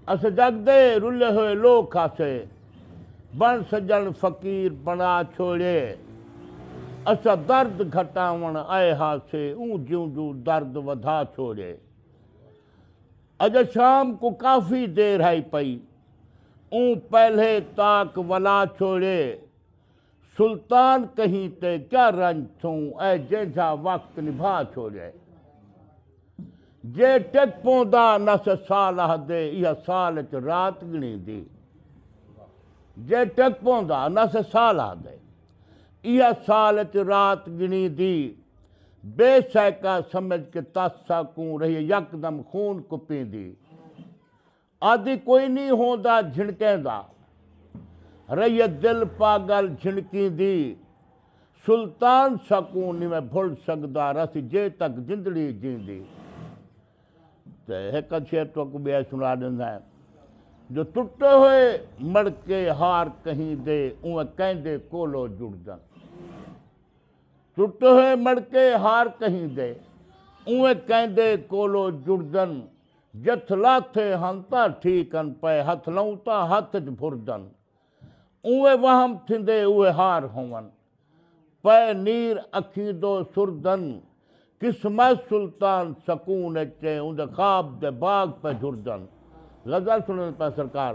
اسے جگ دے رلے ہوئے لوک آسے بن سجن فقیر بنا چھوڑے اسا درد گھٹاون آئے ہاسے اوں جوں جوں درد ودھا چھوڑے اج شام کو کافی دیر ہائی پئی اوں پہلے تاک ولا چھوڑے سلطان کہیں تے کیا رنج تھوں اے جینجھا وقت نبھا چھوڑے جے ٹک پوندا نس سال آہدے ایہا سال اچ رات گنی دی جے ٹک پوندا نس سال آہدے ایہا سال اچ رات گنی دی بے سیکا سمجھ کے تس ساکوں رہیے یکدم خون کپیندی آدھی کوئی نی ہوندا جھنکیں دا۔ رئیت دل پاگل جھنکیں دی۔ سلطان سکوں نی میں بھل سگدا رس جے تک جندڑی جیندی۔ تے ہک ادھ شعر تہاکوں ٻیا سنا ݙیندا ہیں۔ جو ٹٹے ہوئے مڑکے ہار کہیں دے اونویں کہیں دے کولو جڑدن۔ ٹٹے ہوئے مڑکے ہار کہیں دے اونویں کہیں دے کولو جڑدن۔ جتھ لاتھے ہن تاں ٹھیک ہن پئے ہتھ لئوں تاں ہتھ اچ بھرجن اونویں وہم تھیندے اوہے ہار ہوون پئے نیر اکھیں دو سرجن قسمہ سلطان سکون اچ اے اوندے خواب دے باغ پئے جھرجن غزل سنڑن پئے سرکار۔